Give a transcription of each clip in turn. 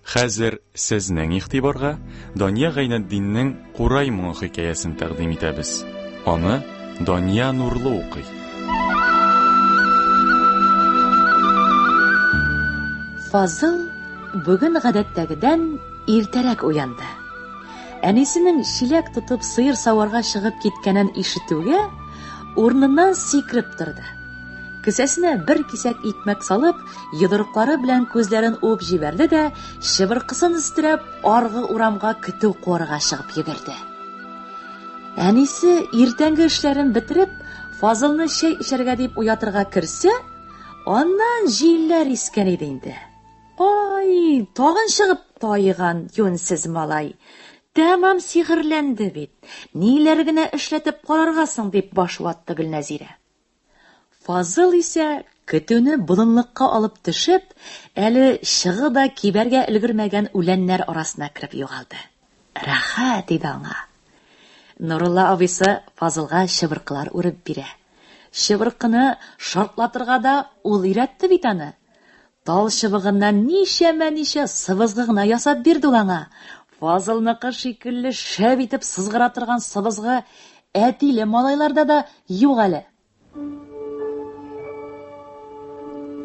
Хәзер сезнең игътибарга Дания Гайнетдиннең Курай моңы хикәясен тәкъдим итәбез. Аны Дания Нурлы укый. Фазыл бүген гадәттәгедән иртәрәк уянды. Әнисенең чиләк тотып сыер саварга чыгып киткәнен ишетүгә, урыныннан сикереп торды. Кесәсенә бер кисәк икмәк салып, йодрыклары белән күзләрен уып җибәрде дә, чыбыркысын өстерәп, аргы урамга көтү куарга чыгып йөгерде. Әнисе иртәнге эшләрен бетереп, Фазылны чәй эчәргә дип уятырга керсә, аннан җилләр искән иде инде. Ай, тагын чыгып тайган юнсез малай. Тәмам сихерләнде бит. Ниләр генә эшләтеп карарга соң, дип баш ватты Гөлнәзирә. Фазыл исә, көтүне болынлыкка алып төшеп, әле чыгы да кибәргә өлгермәгән үләннәр арасына кереп югалды. Рәхәт иде аңа. Нурулла абыйсы Фазылга чыбыркылар үреп бирә. Чыбыркыны шартлатырга да ул өйрәтте бит аны. Тал чыбыгыннан ничәмә-ничә сыбызгы гына ясап бирде ул аңа. Фазылныкы шикелле шәп итеп сызгыра торган сыбызгы әтиле малайларда да юк әле.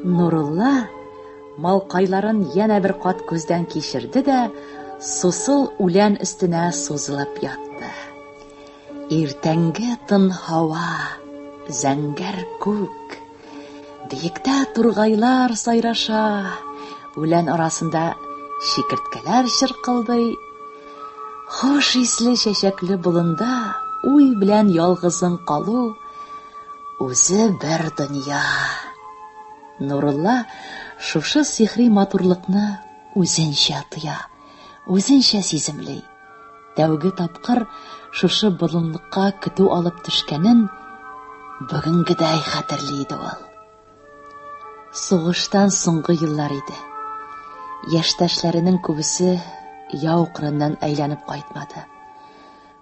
Нурулла малкайларын янә бер кат күздән кичерде дә, сусыл үлән өстенә сузылып ятты. Иртәнге тын һава, зәңгәр күк, Биектә тургайлар сайраша, үлән арасында чикерткәләр чыркылдый. Хош исле чәчәкле болында уй белән ялгызың калу үзе бер дөнья. Нурулла шушы сихри матурлыкны үзенчә тоя, үзенчә сиземли. Тәүге тапкыр шушы болынлыкка көтү алып төшкәнен бүгенгедәй хәтерли иде ул. Сугыштан соңгы еллар иде. Яшьтәшләренең күбесе яу кырыннан әйләнеп кайтмады.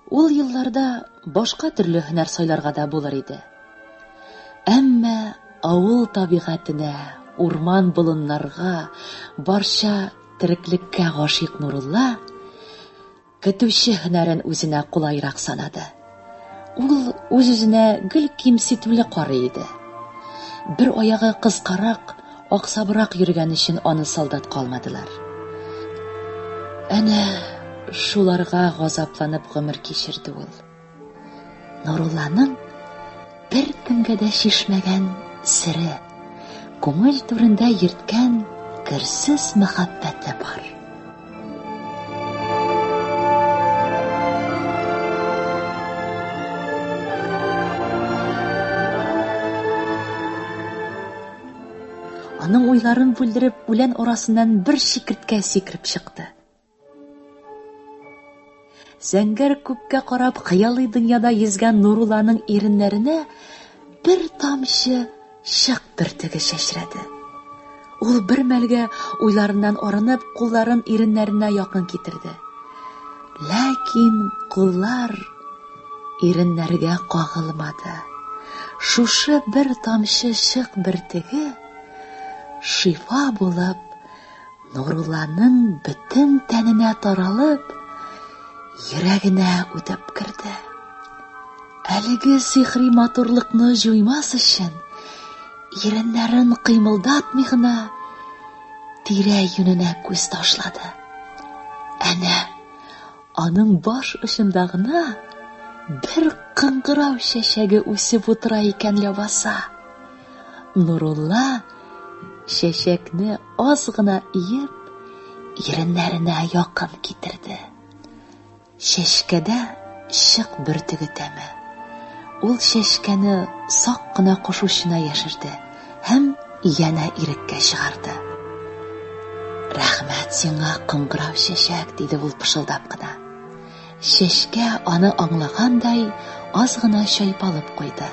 Ул елларда башка төрле һөнәр сайларга да булыр иде. Әмма авыл табигатенә, урман-болыннарга, барча Тереклеккә гашыйк Нурулла көтүче һөнәрен үзенә кулайрак санады. Ул үз-үзенә гел кимсетүле карый иде. Бер аягы кыскарак, аксабрак йөргән өчен аны солдатка алмадылар. Әнә шуларга газапланып гомер кичерде ул. Нурулланың бер кемгә дә шешмәгән сире, күңел түрендә йөрткән керсез мәхәббәте бар. Аның уйларын бүлдереп, үлән арасыннан бер чикерткә сикереп чыкты. Зәңгәр күккә карап хыялый дөньяда йөзгән Нурулланың иреннәренә бер тамчы шык бөртеге чәчрәде. Ул бер мәлгә уйларыннан арынып, кулларын иреннәренә якын китерде. Ләкин куллар иреннәргә кагылмады. Шушы бер тамчы шык бөртеге шифа булып Нурулланың бөтен тәненә таралып, йөрәгенә үтеп керде. Әлеге сихри матурлыкны җуймас өчен, иреннәрен кыймылдатмый гына тирә юненә күз ташлады. Әнә, аның баш очында гына бер кыңгырау чәчәге үсеп утыра икән ләбаса. Нурулла чәчәкне Аз гына иеп, иреннәренә якын китерде. Чәчкәдә чык бөртеге тәме. Ул чәчкәне сак кына кошучына яшерде һәм янә иреккә чыгарды. Рәхмәт сиңа, кыңгырау чәчәк, диде ул пышылдап кына. Чәчкә аны аңлагандай аз гына чайпалып куйды.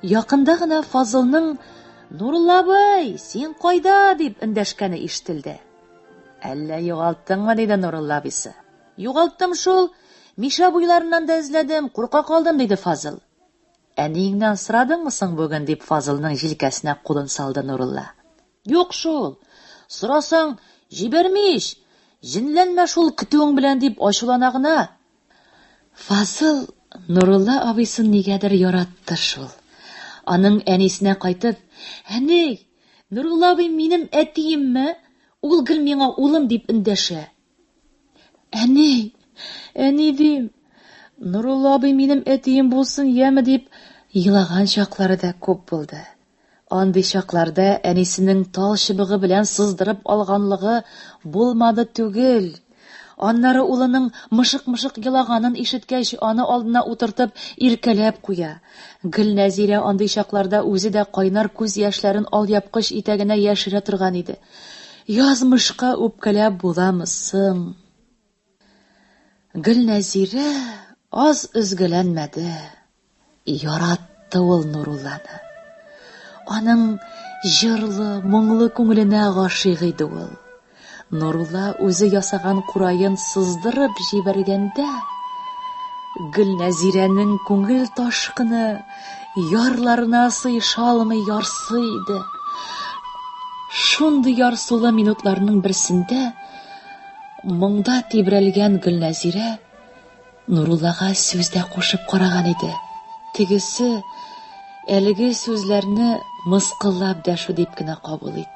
Якында гына Фазылның Нурулла абый, син кайда? дип эндәшкәне ишетелде. Әллә югалттыңмы? диде Нурулла абыйсы. Югалттым шул. Миша буйларыннан да эзләдем, курка калдым, диде Фазыл. Әниеңнән сорадыңмы соң бүген? дип Фазылның җилкәсенә кулын салды Нурулла. Юк шул! Сорасаң, җибәрми ич! Җенләнмә шул көтүең белән, дип ачулана гына. Фазыл Нурулла абыйсын нигәдер яратты шул. Аның әнисенә кайтып, Әни, Нурулла абый минем әтиемме? Ул гел миңа улым дип эндәшә. Әни! Әни дим! Нурулла абый минем әтием булсын яме дип елаган чаклары да күп булды. Андый чакларда әнисенең тал чыбыгы белән сыздырып алганлыгы булмады түгел. Аннары улының мышык-мышык елаганын ишеткәч, аны алдына утыртып, иркәләп куя. Гөлнәзирә андый чакларда үзе дә кайнар күз яшьләрен алъяпкыч итәгенә яшерә торган иде. Язмышка үпкәләп буламы соң? Гөлнәзирә аз өзгәләнмәде. Яратты ул Нурулланы. Аның җырлы, моңлы күңеленә гашыйк иде ул. Нурулла үзе ясаган кураен сыздырып җибәргәндә, Гөлнәзирәнең күңел ташкыны Ярларына сыеша алмый ярсый иде. Шундый ярсулы минутларның берсендә моңда тибрәлгән Гөлнәзирә Нуруллага сүз дә кушып караган иде. Тегесе әлеге сүзләрне мыскыллап дәшү дип кенә кабул итте.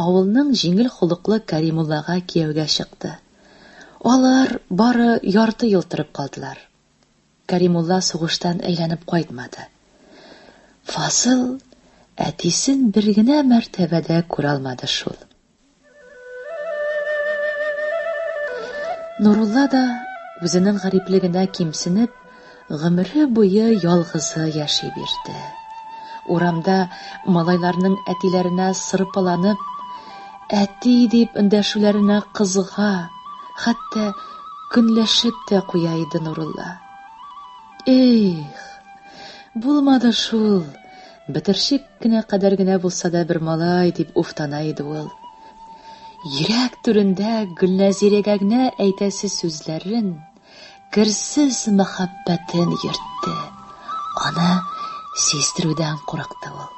Авылның җиңел холыклы Кәримуллага кияүгә чыкты. Алар бары ярты ел торып калдылар. Кәримулла сугыштан әйләнеп кайтмады. Фазыл әтисен бер генә мәртәбә дә күралмады шул. Нурулла да, үзенең гариплегенә кимсенеп, Гомере буе ялгызы яши бирде. Урамда малайларның әтиләренә сырпаланып, әти дип эндәшүләренә кызыга, хәтта көнләшеп тә куя иде Нурулла. Эх, булмады шул, бетерчек кенә кадәр генә булса да бер малай, дип уфтана иде ул. Йөрәк түрендә Гөлнәзирәгә генә әйтәсе сүзләрен, керсез мәхәббәтен йөртте. Аны сиздерүдән курыкты ул.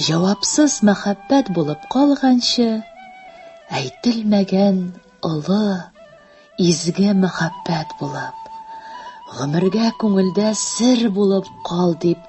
Җавапсыз мәхәббәт булып калганчы, әйтелмәгән олы, изге мәхәббәт булып, гомергә күңелдә сер булып кал дип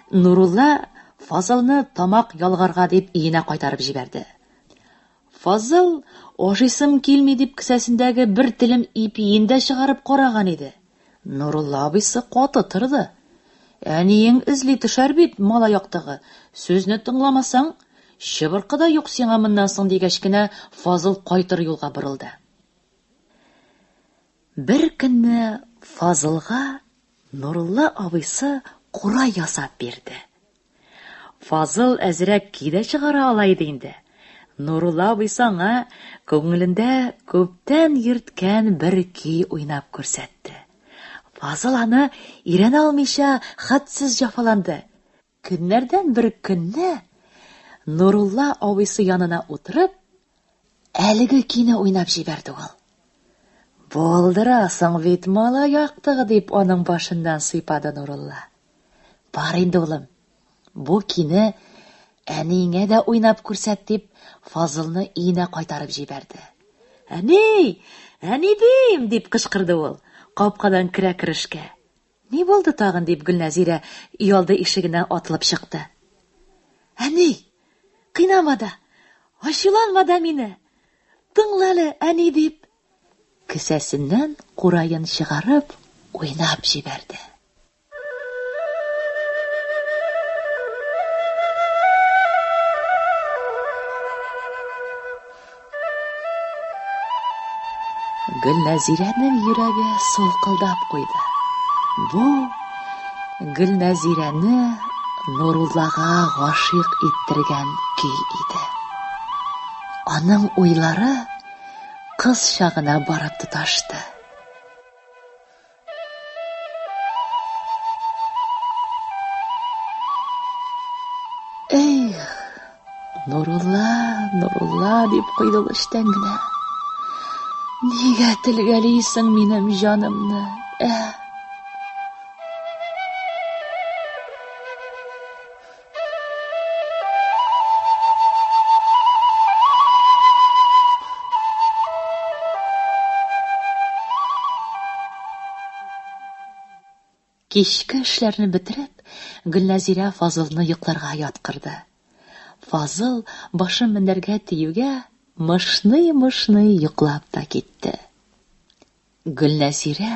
Нурулла Фазылны тамак ялгарга дип өенә кайтарып җибәрде. Фазыл, ашыйсым килми дип кесәсендәге бер телем ипиен дә чыгарып караган иде. Нурулла абыйсы каты торды. Әниең эзли төшәр бит, малай актыгы, сүзне тыңламасаң, чыбыркы да юк сиңа моннан соң, дигәч кенә Фазыл кайтыр юлга борылды. Бер көнне Фазылга Нурулла абыйсы кура ясап бирде. Фазыл әзрәк ки дә чыгара ала иде инде. Нурулла абыйсы аңа күңелендә күптән йөрткән бер көй уйнап күрсәтте. Фазыл аны өйрәнә алмыйча хәтсез җафаланды. Көннәрдән бер көнне Нурулла абыйсы янына утырып, әлеге көйне уйнап җибәрде ул. Булдырасың бит, мала яктыгы, дип аның башыннан сыйпады Нурулла. Бар инде, улым, бу көйне әниеңә дә уйнап күрсәт, дип Фазылны өенә кайтарып җибәрде. Әни! Әнидим! дип кычкырды ул, капкадан керә керешкә. Ни булды тагын? дип Гөлнәзирә өйалды ишегеннән атылып чыкты. Әни, кыйнама да, ачуланма да мине. Тыңла әле, әни, дип, кесәсеннән кураен чыгарып, уйнап җибәрде. Гөлнәзирәнең йөрәге сулкылдап куйды. Бу Гөлнәзирәне Нуруллага гашыйк иттергән көй иде. Аның уйлары кыз чагына барып тоташты. Эх, Нурулла, Нурулла, дип куйды ул эчтән генә. Нигә телгәлисең минем җанымны? Эх! Кичке эшләрне бетереп, Гөлнәзирә Фазылны йокларга яткырды. Фазыл башын мендәргә тиюгә, мышный-мышный йоклап та китте. Гөлнәзирә,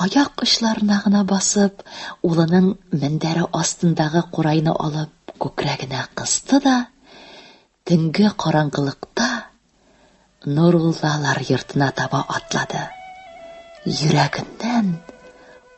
аяк очларына гына басып, улының мендәре астындагы курайны алып күкрәгенә кысты да, төнге караңгылыкта Нуруллалар йортына таба атлады. Йөрәгеннән